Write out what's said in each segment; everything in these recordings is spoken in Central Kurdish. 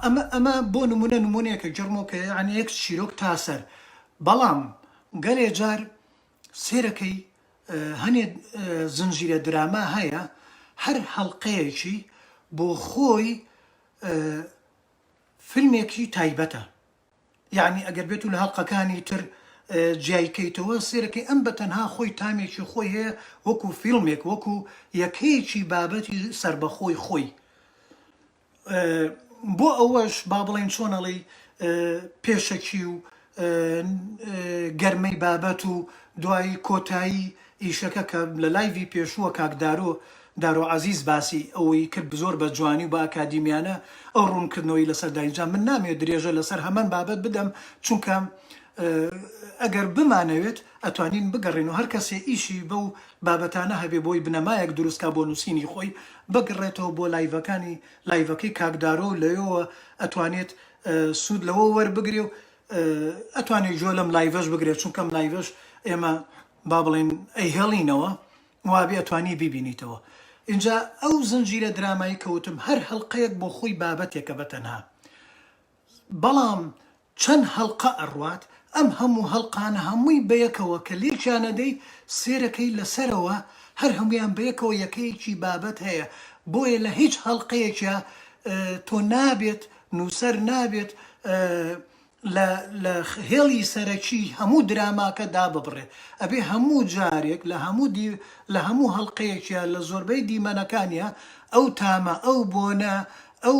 ئەمە ئەمە بۆ نمونە نمونەیەکە جەرمۆکە یان یەک چیرۆک تاسەر بەڵام گەلێ جار سێرەکەی هەنێ زنجیرە دراما هەیە هەر هەڵقەیەکی بۆ خۆی فیلمێکی تایبەتە یعنی ئەگەر بێت و لە هەڵلقەکانی تر جیایکەیتەوە سێرەکەی ئەم بە تەنها خۆی تامێکی خۆی هەیە وەکو فیلمێک وەکو یەکەیەکی بابەتی سربەخۆی خۆی بۆ ئەوەش با بڵێین چۆن ئەڵێی پێشەکی و گەرمەی بابەت و دوایی کۆتایی ئیشەکە کە لە لایڤی پێشووە کاک دارۆ دارۆ عەزیز باسی ئەوەی کرد زۆر بە جوانی و بە ئەکادیمیانە ئەو ڕوونکردنەوەی لەسەر دا ئینجا من نامەوێت درێژە لەسەر هەمان بابەت بدەم چونکە ئەگەر بمانەوێت ئەتوانین بگەڕێن و هەر کەسێ ئیشی بەو بابەتانە هەبێ بۆی بنەمایەک دروست کا بۆ نووسینی خۆی بگڕێتەوە بۆ لایڤەکانی لایڤەکەی کاک دارۆ و لەوێوە ئەتوانێت سوود لەوە وەربگرێ و ئەتوانێت جۆ لەم لایڤەش بگرێت چونکەم لایڤەش ئێمە با بڵێن ئەیهێڵینەوە وابێ ئەتوانی بیبینیتەوە ئینجا ئەو زنجیرە درامایی کەوتم هەر هەڵقەیەک بۆ خۆی بابەتێکە بە تەنها بەڵام چەن هەڵقە ئەڕوات ئەم هەموو هەڵقانە هەمووی بەیەکەوە کە لێکیانەدەی سێرەکەی لەسەرەوە هەر هەموویان بەیەکەوە یەکەیەکی بابەت هەیە بۆیە لە هیچ هەڵقەیەکیا تۆ نابێت نووسەر نابێت لە لە هێڵی سەرەکی هەموو دراماکە داببڕێ ئەبێ هەموو جارێک لە هەموو دی لە هەموو هەڵقەیەکیا لە زۆربەی دیمەنەکانیا ئەو تامە ئەو بۆنە ئەو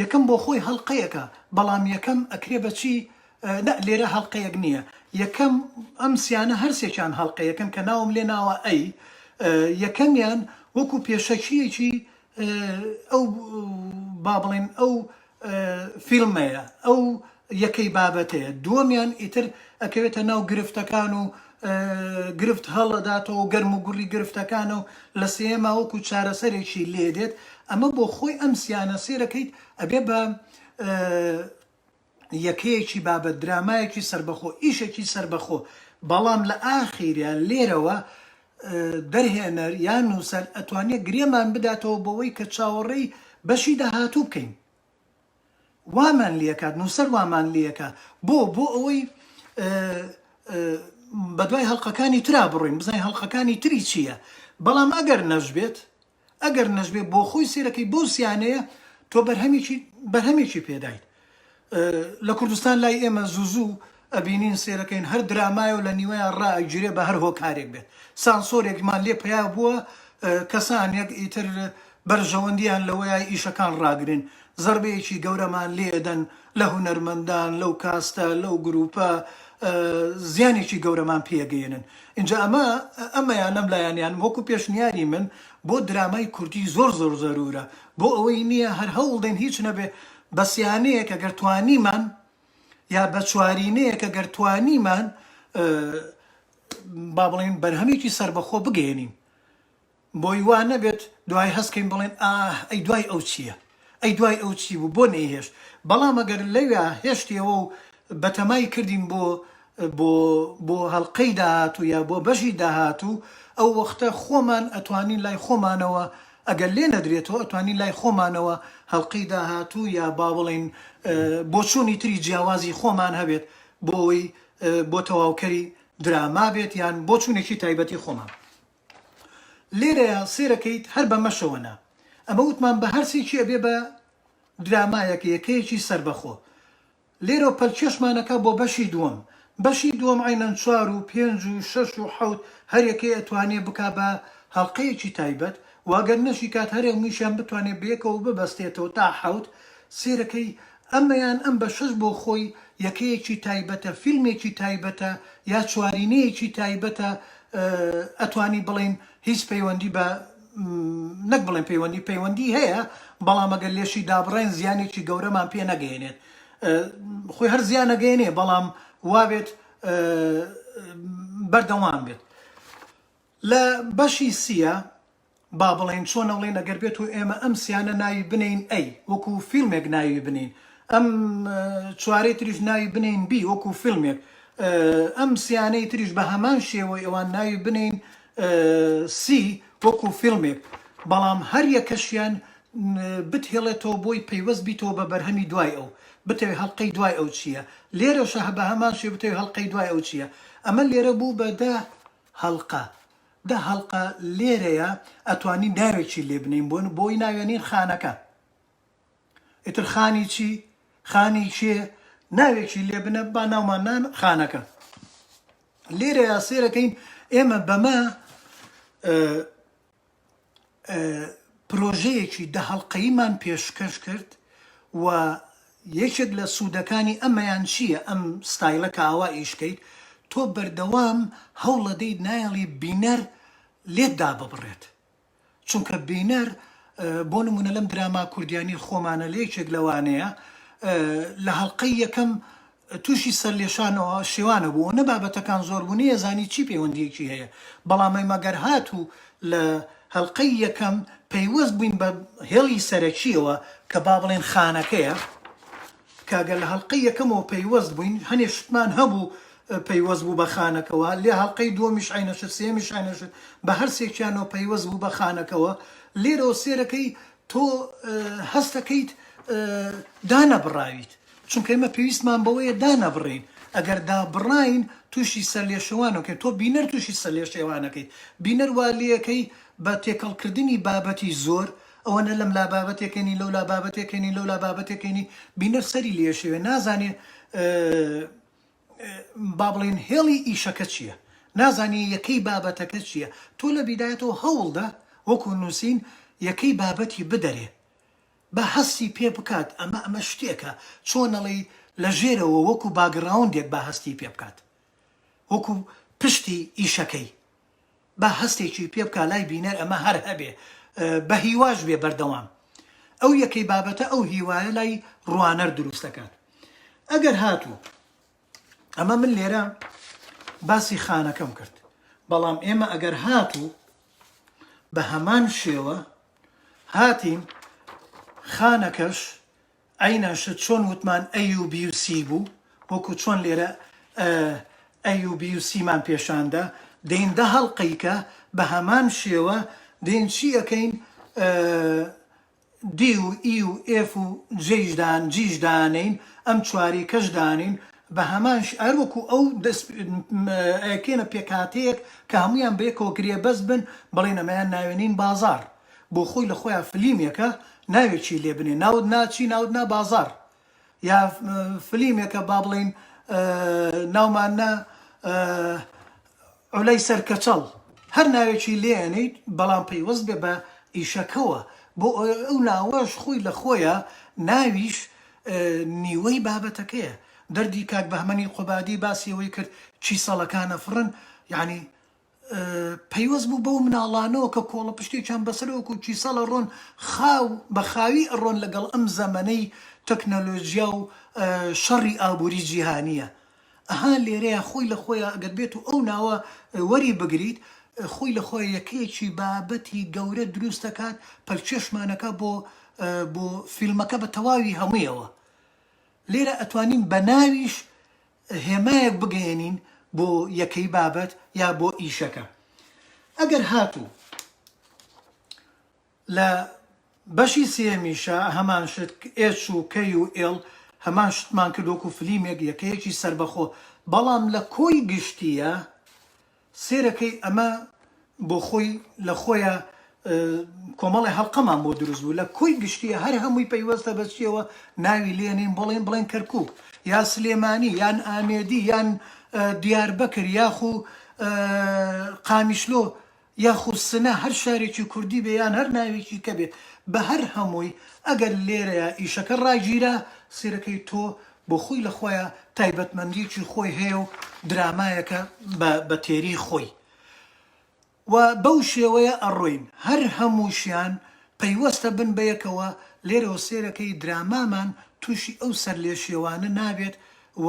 یەکەم بۆخۆی هەڵقەیەکە بەڵام یەکەم ئەکرێ بەچی نا لێرە هەڵقەیەک نییە یەکەم ئەم سیانە هەرسێکیان هەڵقەیەکەن کە ناوم لێ ناوە ئەی یەکەمیان وەکو پێشەکیەکی ئەو با بڵێن ئەو فیلمەیە ئەو یەکەی بابەتەیە دووەمیان ئیتر ئەکەوێتە ناو گرفتەکان و گرفت هەڵەداتەوە و گەرم و گوڕی گرفتەکانە و لە سێیەما وەکو چارەسەرێکی لێ دێت ئەمە بۆ خۆی ئەم سیانە سێرەکەیت ئەبێ بە یەکەیەکی بابەت درامایەکی سربەخۆ ئیشێکی سربەخۆ بەڵام لە ئاخیریا لێرەوە دەرهێنەر یان نووسەر ئەتوانێت گرێمان بداتەوە بۆەوەی کە چاوەڕێی بەشی داهاتوو بکەین وامان لێکات نوسەر وامان لێکا بۆ بۆ ئەوەی بەدوای هەڵلقەکانی تررا بڕۆین بزانین هەڵلقەکانی تری چییە بەڵام ئەگەر نەشبێت ئەگەر نەشبێت بۆ خۆی سێرەکەی بۆ سیانەیە تۆ بەرهەمێکی بەرهەمێکی پێدایت لە کوردستان لای ئێمە زوو زوو ئەبینین سەیرەکەین هەر درامایە و لە نیوەیان ڕائەگیرێ بە هەر هۆکارێک بێت سانسۆرێکمان لێ پەیا بووە کەسانێک ئیتر بەرژەوەندیان لەوەیە ئیشەکان ڕاگرن زەربەیەکی گەورەمان لێ ئەدەن لە هونەرمەندان لەو کاستە لەو گرووپە زیانێکی گەورەمان پێ ئەگەیەنن ئینجا ئەمە ئەمەیان لەم لایەنیان وەکوو پێشنیاری من بۆ درامای کوردی زۆر زۆر زەروورە بۆ ئەوەی نییە هەر هەوڵدەین هیچ نەبێ بەس یانەیەک ئەگەر توانیمان یا بە چوارینەیەک ئەگەر توانیمان با بڵێن بەرهەمێکی سەربەخۆ بگەێنین بۆی وا نەبێت دوای هەستکەین بڵێن ئاه ئەی دوای ئەو چییە ئەی دوای ئەو چی بوو بۆ نەیهێشت بەڵام ئەگەر لەوێ هێشتەوە و بەتەمای کردین بۆ بۆ بۆ هەڵلقەی داهاتوو یا بۆ بەشی داهاتوو ئەو وەختە خۆمان ئەتوانین لای خۆمانەوە ئەگەر لێ نەدرێتەوە ئەتوانین لای خۆمانەوە هەڵقەی داهاتوو یا با بڵێین بۆچوونی تری جیاوازی خۆمان هەبێت بۆ ئەوەی بۆ تەواوکەری دراما بێت یان بۆچوونێکی تایبەتی خۆمان لێرەیە سێرەکەیت هەر بەمەشەوە نا ئەمە وتمان بە هەرسێکی ئەبێ بە درامایەکە یەکەیەکی سربەخۆ لێرەوە پەلکێشمان ئەکا بۆ بەشی دووەم. بەشی دووەم عەینەن چوار و پێنج و شەش و حەوت هەر یەکەی ئەتوانێ بکا بە هەڵقەیەکی تایبەت و ئەگەر نەشیکات هەر هەموویشیان بتوانێ بەیەکەوە ببەستێتەوە تا حەوت سێرەکەی ئەمەیان ئەم بەشەش بۆ خۆی یەکەیەکی تایبەتە فیلمێکی تایبەتە یا چوارینەیەکی تایبەتە ئەتوانی بڵێین هیچ پەیوەندی بە نەک بڵێن پەیوەندی پەیوەندی هەیە بەڵام ئەگەر لێشی دابڕێن زیانێکی گەورەمان پێ نەگەیەنێت خۆی هەر زیانەگەێنێ بەڵام وابێت بەردەوام بێت لە بەشی سیە با بڵێن چۆن ئەڵێن ئەگەر بێت و ئێمە ئەم سیانە ناوی بنین ئەی وەکو فیلمێک ناوی بنین ئەم چوارەی تریش ناوی بنین بی وەکو فیلمێک ئەم سیانەی تریش بە هەمان شێوەی ئەوان ناوی بنین سی وەکو فیلمێک بەڵام هەر یەکەشیان بتهێڵێتەوە بۆی پەیوەست بیتەوە بە بەرهەمی دوای ئەو بتەوێ هەڵقەی دوای ئەو چیە لێرەشە هە بەهەمان شێ بتەوێ هەڵقەی دوای ئەو چیە ئەمە لێرە بوو بە دە هەڵقە دە هەڵقە لێرەیە ئەتوانی ناوێکی لێ بنێین بۆن بۆی ناوێنین خانەکە ئیتر خانی چی خانی کێ ناوێکی لێ بنە با ناومان نان خانەکە لێرەیە سێرەکەین ئێمە بەمە پرۆژەیەکی دەهڵلقەیمان پێشکەش کرد و یەکێک لە سوودەکانی ئەمەیان چییە ئەم ستایلە کە ئاوا ئیشکەیت تۆ بەردەوام هەوڵەدەیت نایڵی بینەر لێتدا ببڕێت چونکە بینەر بۆ نمونە لەم دراما کوردیانەی خۆمانە لە یەکێک لەوانەیە لە هەڵلقەی یەکەم تووشی سەر لێشانەوە شێوانە بوو نە بابەتەکان زۆر بوو نەیەزانی چی پەیوەندیەکی هەیە بەڵامی مەگەر هات و لە هەلقەی یەکەم پەیوەست بووین بە هێڵی سەرەکیەوە کە با بڵێن خانەکەیە تکا گەر لە هەڵقەی یەکەمەوە پەیوەست بووین هەنێ شتمان هەبوو پەیوەست بوو بە خانەکەوە لێ هەڵقەی دووەمیش عەینەشت سێیەمیش عەینەشت بە هەر سێکیانەوە پەیوەست بوو بە خانەکەوە لێرەوە سێرەکەی تۆ هەستەکەیت دانەبڕاویت چونکە ئێمە پێویستمان بەوەیە دانەبڕین ئەگەر دابڕاین تووشی سەرلێشەوانەکەی تۆ بینەر تووشی سەرلێشێوانەکەی بینەر وا لێکەی بە تێکەڵکردنی بابەتی زۆر ئەوە نە لەم لا بابەتێ کەنی لەو لا بابەتێ کەنی لەو لا بابەتێ کەنی بینەر سەری لێ ئەشێوێ نازانێ با بڵێن هێڵی ئیشەکە چییە نازانێ یەکەی بابەتەکە چییە تۆ لە بیدایەتەوە هەوڵدە وەکو نووسین یەکەی بابەتی بدەرێ با هەستی پێ بکات ئەمە ئەمە شتێکە چۆنەڵی لە ژێرەوە وەکو باگڕاوندێک با هەستی پێ بکات وەکو پشتی ئیشەکەی با هەستێکی پێ بکا لای بینەر ئەمە هەر هەبێ بە هیواش بێ بەردەوام ئەو یەکەی بابەتە ئەو هیوایە لای ڕوانەر دروست دەکات ئەگەر هاتوو ئەمە من لێرە باسی خانەکەم کرد بەڵام ئێمە ئەگەر هاتوو بە هەمان شێوە هاتین خانەکەش ئەی ناشت چۆن وتمان AUBUC بوو وەکو چۆن لێرە AUBUC مان پێشاندا دەین دە هەڵقەیکە بە هەمان شێوە دێین چی ئەکەین D و E و F و G یش دان G یش دانێین ئەم چواریکەش دانێین بە هەمان ش هەر وەکو ئەو دەس ئەکەینە پێکهاتەیەک کە هەموویان بەیەکەوە گرێبەست بن بڵێین ئەمەیان ناوێنین بازاڕ بۆ خۆی لە خۆیان فلیمێکە ناوێکی لێ بنێ ناوت نا چی ناوت نا بازاڕ یا فلیمێکە با بڵێین ناومان نا عولای سەر کەچەڵ هەر ناوێکی لێنیت بەڵام پەیوەست بێ بە ئیشەکەوە بۆ ئەو ناوەش خۆی لە خۆیە ناویش نیوەی بابەتەکەیە دەردی کاک بەهمەنی قوبادی باسی ئەوەی کرد چی سەڵەکانە فڕن یعنی پەیوەست بوو بەو مناڵانەوە کە کۆڵەپشتێکیان بەسەرە وەکو کیسەڵ ئەڕۆن خاو بە خاوی ئەڕۆن لەگەڵ ئەم زەمەنەی تەکنەلۆجیا و شەڕی ئابوری جیهانیە ئەها لێرەیە خۆی لە خۆیا ئەگەر بێتو ئەو ناوە وەری بگریت خۆی لە خۆیا یەکەیەکی بابەتی گەورە دروست ئەکات پەلکێشمان ئەکا بۆ بۆ فیلمەکە بە تەواوی هەمویەوە لێرە ئەتوانین بە ناویش هێمایەک بگەیەنین بۆ یەکەی بابەت یا بۆ ئیشەکە ئەگەر هاتوو لە بەشی سێمیشە هەمان شت ئێچ و کەی و ئێڵ هەمان شتمان کردوەکو فلیمێک یەکەیەکی سەربەخۆ بەڵام لە کۆی گشتیە سێرەکەی ئەمە بۆ خۆی لە خۆیا کۆمەڵێ هەڵقەمان بۆ دروست بوو لە کۆی گشتیە هەر هەمووی پەیوەستە بە چیەوە ناوی لێنین بڵێن بڵێن کەرکک یا سلێمانی یان ئامێدی یان دیار بەکر یاخو قامیشلۆ یاخو سنە هەر شارێکی کوردی بێ یان هەر ناوێکی کە بێ بە هەر هەمووی ئەگەر لێرەیە ئیشەکە ڕاگیرە سیرەکەی تۆ بۆ خۆی لە خۆیا تایبەتمەندیەکی خۆی هەیە و درامایەکە بە بە تێری خۆی و بەو شێوەیە ئەڕۆین هەر هەمووشیان پەیوەستە بن بە یەکەوە لێرەوە سێرەکەی درامامان تووشی ئەو سەر لێشێوانە نابێت و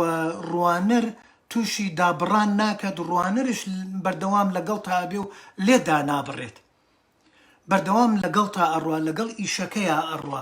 ڕوانەر تووشی دابڕان ناکەت ڕوانەرش بەردەوام لەگەڵتا ئەبێ و لێت دانابڕێت بەردەوام لەگەڵتا ئەڕوا لەگەڵ ئیشەکەیا ئەڕوا.